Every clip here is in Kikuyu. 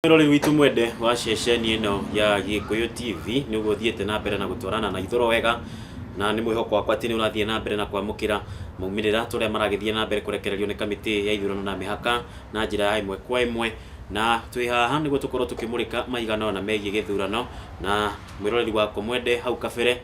Mwĩrori witũ mwende wa ceceni ĩno ya Gĩkũyũ TV nĩguo ũthiĩte na mbere na gũtwarana na ithũro wega na nĩ mwĩhoko wakwa atĩ nĩ ũrathiĩ na mbere na kwamũkĩra maumĩrĩra tũrĩa maragĩthiĩ na mbere kũrekererio nĩ kamĩtĩ ya ithurano na mĩhaka na njĩra ya ĩmwe kwa ĩmwe na twĩ haha nĩguo tũkorwo tũkĩmũrĩka maigana ona megiĩ gĩthurano na mwĩroreri wakwa mwende hau kabere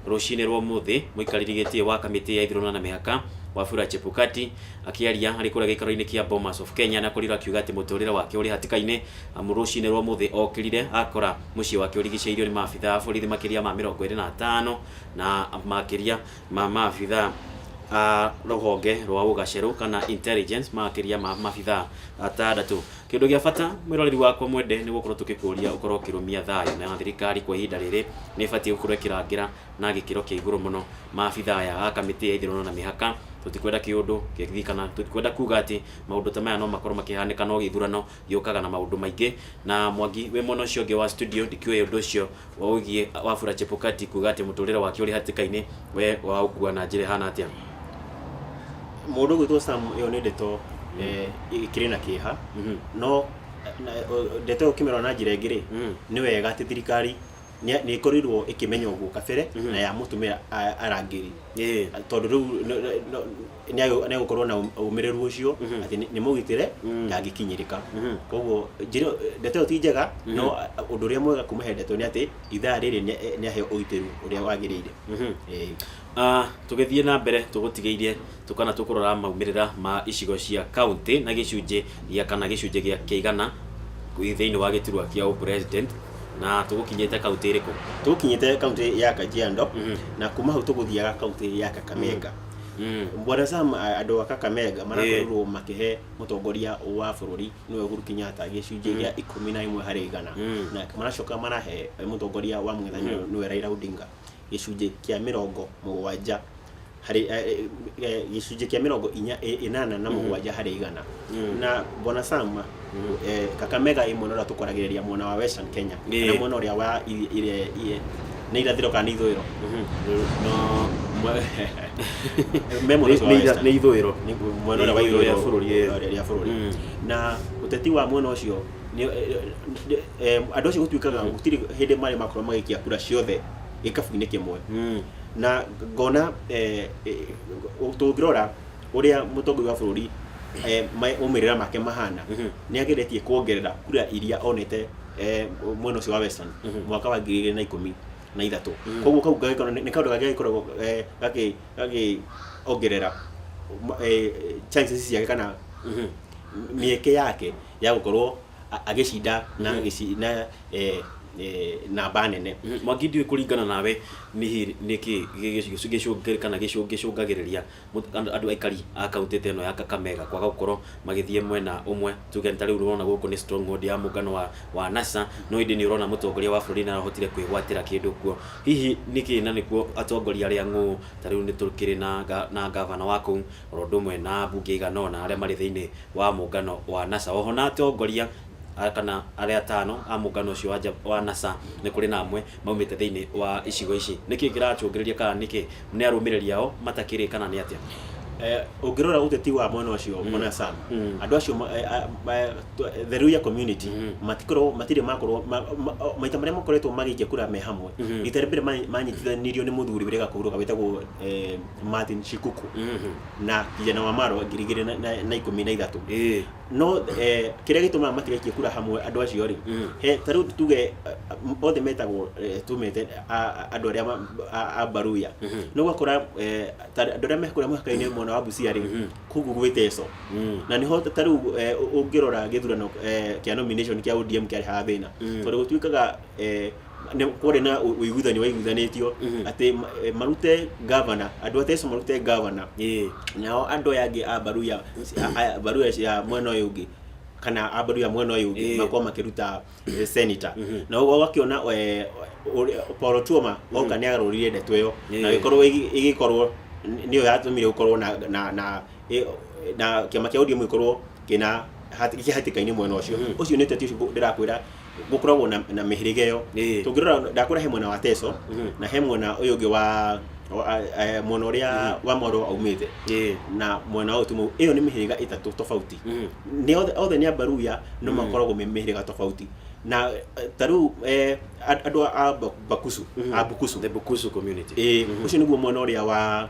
Rũcinĩ rwa ũmũthĩ, mũikarĩri gĩtĩ wa kamĩtĩ ya ithurano na mĩhaka, Wafula Chebukati, akĩaria arĩ kũrĩa gĩikaro-inĩ kĩa Bomas of Kenya na Korido akiuga atĩ mũtũrĩre wake ũrĩ hatĩka-inĩ amu rũcinĩ rwa ũmũthĩ okĩrire akora mũciĩ wake ũrigicĩirio nĩ maabitha a borithi makĩria ma mĩrongo ĩrĩ na atano na makĩria ma maabitha a rũhonge rwa ũgacĩru kana intelligence makĩria ma maabitha atandatũ. Kĩndũ gĩa bata mwĩroreri wakwa mwende nĩ gũkorwo tũkĩkũria ũkorwo ũkĩrũmia thayũ na thirikari kwa ihinda rĩrĩ nĩ ĩbatiĩ gũkorwo ĩkĩrangĩra na gĩkĩro kĩa igũrũ mũno maabitha aya a kamĩtĩ ya ithurano na mĩhaka. Tũtikwenda kĩũndũ gĩthiĩ kana tũtikwenda kuga atĩ maũndũ ta maya no makorwo makĩhanĩka no gĩthurano gĩũkaga na maũndũ maingĩ. Na Mwangi wĩ mwena ũcio ũngĩ wa studio ndikĩũĩ ũndũ ũcio Ũgiĩ Wafula Chebukati kuuga atĩ mũtũrĩre wake ũrĩ hatĩka-inĩ we waũkua na njĩra ĩhana atĩa? Mũndũ ũgwĩtwo Sam ĩyo nĩ ndeto eh, ĩkĩrĩ na kĩeha Mhm. no na- o- ndeto ĩyo ũkĩmĩrora na njĩra ĩngĩ rĩ Mm. nĩ wega atĩ thirikari nĩ nĩ ĩkorirwo ĩkĩmenya ũguo kabere Mhm. na yamũtũmĩra a- arangĩri Ĩĩ. tondũ rĩu no- no- no- nĩ agũ- nĩ agũkorwo na ũm- ũmĩrĩru ũcio atĩ nĩ- nĩ mũgitĩre ndangĩkinyĩrĩka koguo njĩra ndeto ĩyo ti njega no a- ũndũ ũrĩa mwega kuma he ndeto nĩ atĩ ithaa rĩrĩ nĩ- nĩ aheo ũgitĩru ũrĩa wagĩrĩire Ĩĩ. Ah, tũgĩthiĩ na mbere tũgũtigĩirie tũkana tũkũrora maumĩrĩra ma icigo cia kaunti na gĩcunjĩ gĩa kana gĩcunjĩ gĩa kĩa igana thĩinĩ wa gĩturwa kĩa ũ president na tũgũkinyĩte kaunti ĩrĩkũ tũkinyĩte kaunti ya kajiando na kuma hau tũgũthiaga kaunti ya kakamega Mm. bwana sam a- andå a kakamega marakorirwo makĩhe mũtongoria wa bũrũri nĩwe uhuru kenyatta gĩcunjĩ gĩa ikũmi na ĩmwe harĩ igana Mm. na maracoka marahe mũtongoria wa mũng'ethanĩro nĩwe raira odinga gĩcunjĩ kĩa mĩrongo mũgwanja harĩ eh, eh, eh, gĩcunjĩ kĩa mĩrongo inya- ĩ- ĩnana na mũgwanja harĩ igana Mm. na bwana sama Mm. eh, kakamega ä mwena å rä a tå kwaragä rä ria mwena wa western kenya Ĩĩ. kana mwena å rä a wa i- ire- iye- nä irathä ro kana nä ithå ä ro no mwe- me mwena ũcio wa western. nä ithå ä ro Nĩ mwena ũrĩa wa ithũĩro rĩa bũrũri, eh. rĩa- rĩa bũrũri Mm. na ũteti wa mwena ũcio nĩ- eh, eh, eh, andũ acio gũtuĩkaga gũtirĩ hĩndĩ marĩ makorwo magĩikia kura ciothe gĩkabu-inĩ kĩmwe na ngona eh, eh, tũngĩrora ũrĩa mũtongoria wa bũrũri eh, ma- maumĩrĩra make mahana nĩ ageretie kuongerera kura iria onete eh, mwena ũcio wa western Mhm. mwaka wa ngiri igĩrĩ na ikũmi na ithatũ Mhm. koguo kau gagĩkorwo nĩ nĩ kaũndũ kangĩ gagĩkoragwo eh, gakĩ- gakĩongerera ma- eh, chances ciake kana Mhm. mĩeke yake ya gũkorwo a- agĩcinda na Mhm. gĩci- na eh, eh, namba nene mwangi ndiũĩ kũringana nawe nĩ nĩkĩ gĩcũngĩrĩ kana gĩcũngĩrĩria andũ aikari a kaũntĩ ta ĩno ya Kakamega kwaga gũkorwo magĩthiĩ mwena ũmwe, tuge nĩ ta rĩu ũrona gũkũ nĩ stronghold ya mũngano wa, wa NASA, no ĩndĩ nĩ ũrona mũtongoria wa bũrũri nĩ arahotire kwĩgwatĩra kĩndũ kuo. Hihi nĩkĩ na nĩkuo atongoria arĩa ang'ũũ, ta rĩu nĩ tũkĩrĩ na, na ngavana wa kũu, oro ũndũ ũmwe na ambunge igana ũna arĩa marĩ thĩiniĩ wa mũngano wa NASA. Oho na atongoria kana arĩa atano a mũngano ũcio wa NASA, nĩ kũrĩ na amwe maumĩte thĩinĩ wa icigo ici. Nĩkĩ kĩracũngĩrĩria kana nĩkĩ nĩ arũmĩrĩri ao matakĩrĩ kana nĩ atĩa? Eh, ũngĩrora ũteti wa mwena ũcio mm. mwena Sam mm. andũ acio eh, eh, the Luya community mm. matikorwo matirĩ makorwo maita marĩa makoretwo magĩikia kura me hamwe mm-hmm. rita rĩa mbere manyitithanirio nĩ mũthuri wĩrĩ gakũhurũka wĩtagwo Martin Shikuku mm-hmm. na kijana wa Maro ngiri igĩrĩ na ikũmi na ithatũ no eh, kĩrĩa gĩtũmaga matigaikie kura hamwe andũ acio rĩ Mm. he ta rĩu tuge eh, m- othe metagwo eh, tumete a- a- andũ arĩa ma- a- a mbaruya Mhm. no ũgakora eh, ta andũ arĩa mekũrĩa mũhaka-inĩ mwena wa bucia rĩ Mhm. kũguo gwĩ teco Mm. na nĩho ta rĩu eh, ũ- ũngĩrora gĩthurano eh, kĩa nomination kĩa ODM kĩarĩ haha thĩna Mm. tondũ gũtuĩkaga eh, nĩ kwarĩ na ũ- ũiguithanio waiguithanĩtio Mhm. atĩ ma- eh, marute gavana andũ a teso marute gavana Ĩĩ. nao andũ aya angĩ a mbaru ya a- a- mbaru ya- ya mwena ũyũ ũngĩ kana a mbaru ya mwena ũyũ ũngĩ Ĩĩ. makorwo makĩruta eh, senator Mhm. na ũguo ũgakĩona eh, ũrĩa- Paul Otuoma oka nĩ agarũrire ndeto ĩyo na Ĩĩ. ĩkorwo ĩgĩ- ĩgĩkorwo n- nĩyo yatũmire gũkorwo na na na ĩ- na kĩama kĩa ODM gĩkorwo kĩna hat- kĩhatĩka-inĩ mwena ũcio Mhm. ũcio nĩ ũteti ũcio ndĩrakwĩra gũkoragwo na, na mĩhĩrĩga ĩyo Ĩĩ. tũngĩrora ndakũra he mwena wa teso Mhm. na he mwena ũyũ ũngĩ wa wa- a- eh, mwena ũrĩa wa mwarwo aumĩte Ĩĩ. na mwena wa ũtimũ ĩyo nĩ mĩhĩrĩga ĩtatũ tofauti Mhm. nĩ othe, othe nĩ ambaruya no makoragwo me mĩhĩrĩga tofauti na eh, ta rĩu eh, and- andũ a Ba- bakusu Mhm. a bukusu The Bukusu community. Ĩĩ, Mhm. ũcio nĩguo mwena ũrĩa wa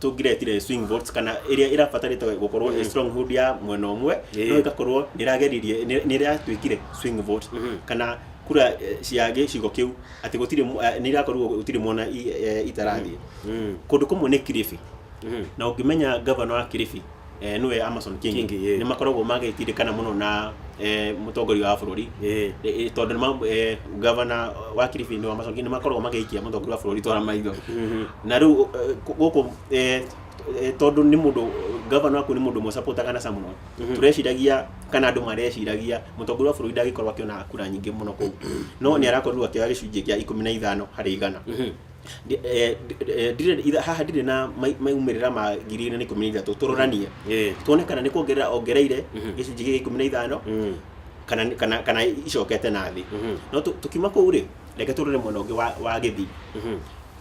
tũngĩretire swing votes kana ĩrĩa ĩrabatarĩte gũkorwo ĩ stronghold ya mwena ũmwe Ĩĩ. no ĩgakorwo nĩrageririe nĩ- nĩratuĩkire swing vote kana kura eh, cia gĩcigo kĩu atĩ gũtirĩ mu- eh, nĩirakorwo gũtirĩ mwona i- eh, itarathiĩ kũndũ kũmwe nĩ kiribi na ũngĩmenya gavana wa kiribi eh, nĩwe Amason Kingi Kingi, ĩĩ. nĩ makoragwo magĩtindĩkana mũno na eh, mũtongoria wa bũrũri Ĩĩ. Eh, eh, tondũ nĩ ma- eh, gavana wa Kilifi nĩ Amason Kingi nĩ makoragwo magĩikia mũtongoria wa bũrũri twara maitho na rĩu eh, gũkũ eh, eh, tondũ nĩ mũndũ gavana waku nĩ mũndũ mũsapotagana naca mũno Mhm. tũreciragia kana andũ mareciragia mũtongoria wa bũrũri ndagĩkorwo akĩona kura nyingĩ mũno kũu no nĩ arakorirwo akĩoya gĩcunjĩ kĩa ikũmi na ithano harĩ igana Mhm. Ndi- eh, ndi- eh, ndirĩ- itha- haha ndirĩ na mai- maumĩrĩra ma ngiri igĩrĩ na ikũmi na ithatũ tũroranie Eh. tuone kana nĩ kuongerera ongereire Mhm. gĩcunjĩ gĩa ikũmi na ithano Mm. kana kana kana icokete na thĩ Mhm. no tu- tukiuma kũu rĩ reke tũrore mwena ũngĩ wa, wa gĩthii Mhm.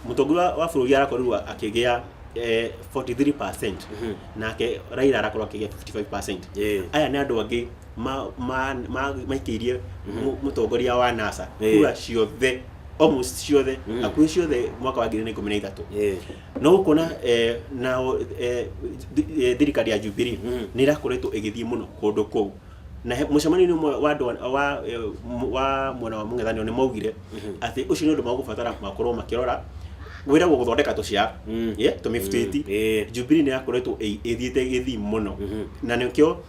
mũtongoria wa- wa bũrũri arakorirwo akĩgĩa eh, 43 Mhm. nake raira arakorwo akĩgĩa 55 Eh. aya nĩ andũ angĩ ma- ma- ma- maikĩirie Mhm. mũ- mũtongoria wa nasa Eh. kura ciothe almost ciothe Mhm. akuhĩ ciothe mwaka wa ngiri na ikũmi na ithatũ Eh. no ũkona eh, na eh, thi- eh, thirikari ya Jubilee Mhm. nĩ ĩrakoretwo ĩgĩthiĩ mũno kũndũ kũu na he- mũcemanio-inĩ ũmwe wa andũ a- wa, eh, m- wa mwena wa mũng'ethanĩro nĩ maugire Mhm. atĩ ũcio nĩ ũndũ magũbatara makorwo makĩrora wĩra wa gũthondeka tũcĩa Mm. yeah, tũmĩbutĩti Eh. Jubilee nĩ yakoretwo ĩ- ĩthiĩte gĩthii mũno Mhm. na nĩkĩo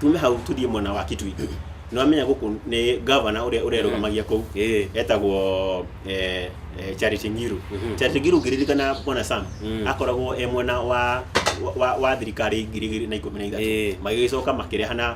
tume hau tuthiĩ mwena wa kitui nĩ wamenya gũkũ nĩ gavana ũrĩa ũrerũgamagia kũu Eh. etagwo eh, eh, charity ngiru Mhm. charity ngiru ngĩririkana bwana sam Mm. akoragwo e mwena wa wa, wa thirikari ngiri igĩrĩ na ikũmi na Eh. ithatũ magĩgĩcoka makĩrehana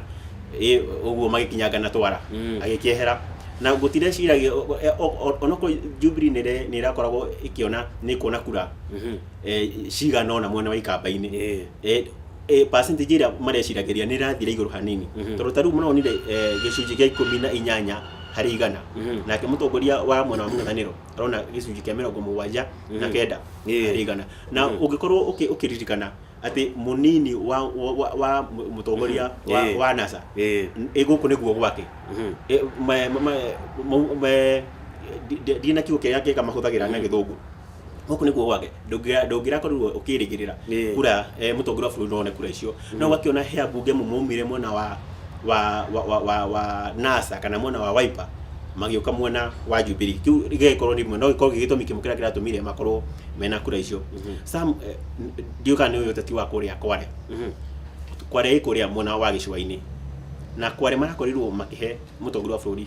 eh, ũguo magĩkinyanga na twara Mm. agĩkĩehera na gũtireciragia o- o- o- o- onokorwo jubilee nĩ ĩre- nĩ ĩrakoragwo ĩkĩona nĩ kuona kura Mhm. eh, cigana ona mwena wa ikamba-inĩ Eh. Eh, eh, percentage ĩrĩa mareciragĩria nĩ ĩrathire igũrũ hanini Mhm. tondũ ta rĩu maronire eh, gĩcunjĩ gĩa ikũmi na inyanya harĩ igana Mhm. nake mũtongoria wa mwena wa mũng'ethanĩro arona gĩcunjĩ kĩa mĩrongo mũgwanja na Mhm. kenda Ĩĩ. harĩ igana na Mhm. ũngĩkorwo ũkĩ- ũkĩririkana atĩ mũnini wa, wa, wa, wa mũ- mũtongoria Mhm. wa, Ĩĩ. wa nasa Ĩĩ. ĩ gũkũ nĩguo gwake Mhm. Eh, ma- ma- ma- mau- ma- ndi- ndi- ndina kiugo kĩrĩa kĩga mahũthagĩra na Mhm. gĩthũngũ gũkũ nĩkuo gwake ndũngĩra- ndũngĩrakorirwo ũkĩrĩgĩrĩra Ĩĩ. kura eh, mũtongoria wa bũrũri none kura icio no ũgakĩona he ambunge amwe maumire mwena wa wa wa wa wa, wa NASA kana mwena wa Wiper magĩũka mwena wa Jubilee kĩu gĩgagĩkorwo nĩ ĩmwe no gĩkorwo gĩ gĩtũmi kĩmwe kĩrĩa kĩratũmire makorwo mena kura icio Sam eh, n- ndiũĩ kana nĩ ũyũ ũteti wa kũrĩa Kware Mhm. Kware ĩ kũrĩa mwena wa gĩcũa-inĩ na Kware marakorirwo makĩhe mũtongoria wa bũrũri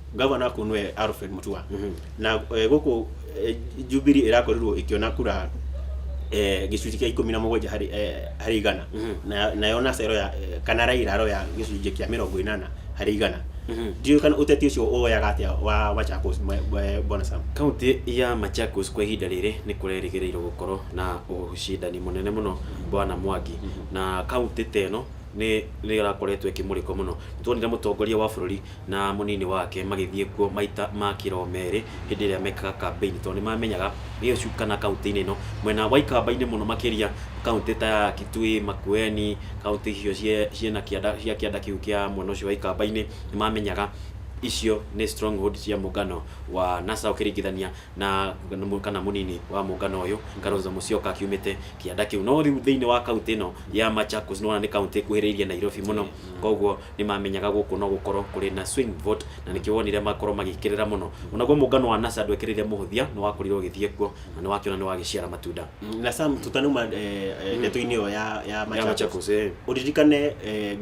gavana kuu nwe Alfred Mutua na eh, guku eh, Jubilee irakorirwo ikiona kura eh, gicunjĩ kĩa ikũmi na mũgwanja harĩ eh, harĩ igana na nayo nacero ya eh, kana Raila aroya gĩcunjĩ kĩa mĩrongo ĩnana harĩ igana ndiũĩ kana ũteti ũcio ũwoyaga atĩa wa Machakos mwe- mwe- bwana Sam Kaunti ya Machakos kwa ihinda rĩrĩ nĩ kũrerĩgĩrĩirwo gũkorwo na ũcindani mũnene mũno bwana Mwangi na kaunti ta ĩno nĩ nĩ ĩrakoretwo ĩkĩmũrĩkwo mũno nĩ tuonire mũtongoria wa bũrũri na mũnini wake magĩthiĩ kuo maita ma kĩro merĩ hĩndĩ ĩrĩa mekaga kambeini tondũ nĩ mamenyaga Gĩcuka kana kaũntĩ-inĩ ĩno mwena wa ikamba-inĩ mũno makĩria kaũntĩ ta ya Kitui, Makueni, kaũntĩ icio ciĩna kĩanda cia kĩanda kĩu kĩa mwena ũcio wa ikamba-inĩ nĩ mamenyaga icio nĩ stronghold cia mũngano wa NASA ũkĩringithania na kana mũnini wa mũngano ũyũ Kalonzo Musyoka akiumĩte kĩanda kĩu no rĩu thĩinĩ wa kaũntĩ ĩno ya Machakos nĩ wona nĩ kaũntĩ ĩkuhĩrĩirie Nairobi mũno koguo nĩ maamenyaga gũkũ no gũkorũo kũrĩ na swing vote, na nĩkĩo wonire makorũo magĩkĩrĩra mũno. O naguo mũngano wa NASA ndwekireire mũhũthia, nĩ wakorirũo ũgĩthiĩ kuo, na nĩ wakĩona nĩ wagĩciara matunda. Na Sam, tũtanauma ndeto-inĩ ĩyo ya ya Machakos, ũririkane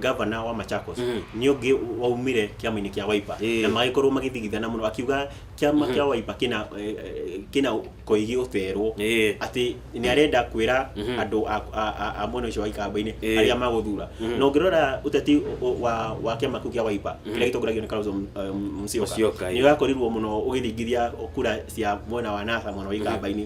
governor wa Machakos nĩ ũngĩ waumire kĩama-inĩ kĩa Wiper, na magĩkorũo magĩthigithana mũno, akiuga kĩama kĩa waipa kĩna eh, eh, kĩna koigi ũterwo Ĩĩ. atĩ nĩ arenda kwĩra Mhm. andũ a- a- a- a mwena ũcio wa ikamba-inĩ Ĩĩ. arĩa magũthura Mhm. na ũngĩrora ũteti ũ- ũ- wa wa kĩama kĩu kĩa waipa Mhm. kĩrĩa gĩtongoragio nĩ Kalonzo M- eh, Musyoka, Musyoka ĩĩ. nĩ ũrakorirwo mũno ũgĩthingithia kura cia mwena wa nasa mwena wa ikamba-inĩ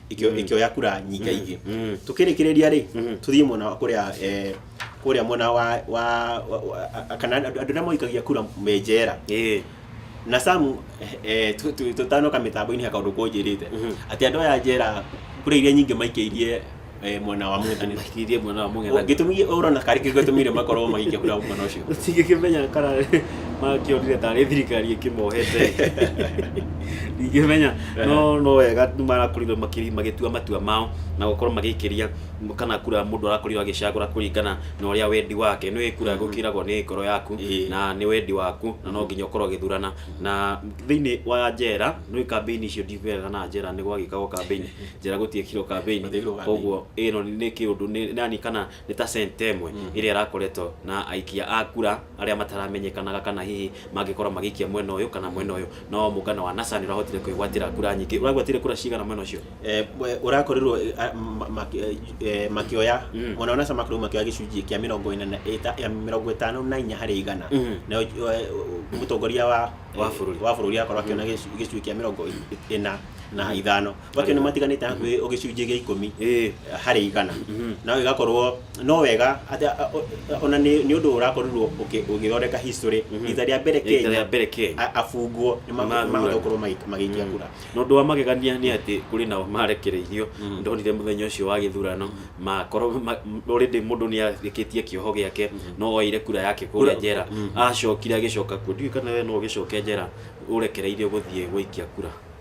ikĩo- ikĩoya kura nyinga ingĩ Mm. tukĩrĩkĩrĩria rĩ Mhm. tuthiĩ mwena wa kũrĩa eh, kũrĩa mwena wa wa wa- wa- kana andũ andũ arĩa moikagia kura me njera Eh. na samu eh, tu- tu- tũtanoka mĩtambo-inĩ ya kaũndũ kũnjĩrĩte Mhm. atĩ andũ aya njera kura iria nyingĩ maikĩirie eh, mwena wa mũng'ethanĩro Makirie mwana wa mũng'ethanĩro. gĩtũmi ũrona karĩ kĩo gĩtũmire makorwo magĩikia kura mwena ũcio Tingĩkĩmenya kana makĩonire tarĩ thirikari ĩkĩmohete ndingĩmenya no no wega nĩ marakorirwo makĩri- magĩtua matua mao na gũkorwo magĩikĩria kana kura mũndũ arakorirwo agĩcagũra kũringana na ũrĩa wendi wake nĩ kura gũkĩragwo nĩ ngoro yaku Ĩĩ. na nĩ wendi waku na no nginya ũkorwo ũgĩthurana na thĩinĩ wa njera nĩ kambĩini icio ndigwetha na njera nĩ gwagĩkagwo kambĩini njera gũtiĩkirwo kambĩini Gũtiekirwo kambĩini. koguo ĩno nĩ kĩũndũ nĩ yani kana nĩ ta centa ĩmwe ĩrĩa ĩrakoretwo na aikia a kura arĩa mataramenyekanaga kana hihi mangĩkorwo magĩikia mwena ũyũ kana mwena ũyũ no mũngano wa NASA nĩ ũrahotire kwĩgwatĩra kura nyingĩ ũragwatire kura cigana mwena ũcio Eh, we- ũrakorirwo eh, a- ma- ma- eh, makĩoya Mm. mwena wa NASA makorirwo makĩoya gĩcunjĩ kĩa mĩrongo ĩna na- ĩta- ya mĩrongo ĩtano na inya harĩ igana Mhm. nayo eh, mũtongoria wa Wa eh, bũrũri. wa bũrũri akorwo akĩona gĩcu- gĩcunjĩ kĩa mĩrongo ĩ- ĩna na ithano macio nĩ matiganĩte hakuhĩ gĩcunjĩ gĩa ikũmi Ĩĩ. harĩ igana Mhm. nawe igakorwo no wega atĩ a- a- ona nĩ nĩ ũndũ ũrakorirwo ũkĩ- ũgĩthondeka history Mhm. rita rĩa mbere Rita rĩa kenya mbere Kenya. a- abungwo nĩ ma- Mathurana. mahota gũkorwo magĩ- magĩikia kura na ũndũ wa magegania nĩ atĩ kũrĩ nao marekereirio Mm. ndonire mũthenya ũcio wa gĩthurano makorwo ma- m- already mũndũ nĩ arĩkĩtie kĩoho gĩake no oire kura yake kũrĩa Kura- njera Mm. acokire agĩcoka kuo ndiũĩ kana we no ũgĩcoke njera ũrekereirio gũthiĩ gũikia kura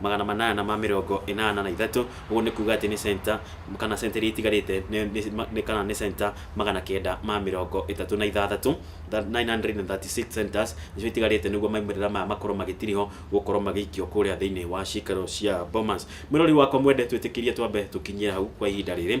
magana manana ma mĩrongo ĩnana na ithatũ, ũguo nĩ kuuga atĩ nĩ centa, kana centa iria itigarĩte nĩ, kana nĩ centa magana kenda ma mĩrongo ĩtatũ na ithathatũ, nine hundred and thirty six centers, nĩcio itigarĩte nĩguo maumĩrĩra maya makorwo magĩtirihwo gũkorwo magĩikio kũrĩa thĩinĩ wa ciikaro cia Bomas. Mwĩrori wakwa mwende twĩtĩkĩrie twambe tũkinyie hau kwa ihinda rĩrĩ,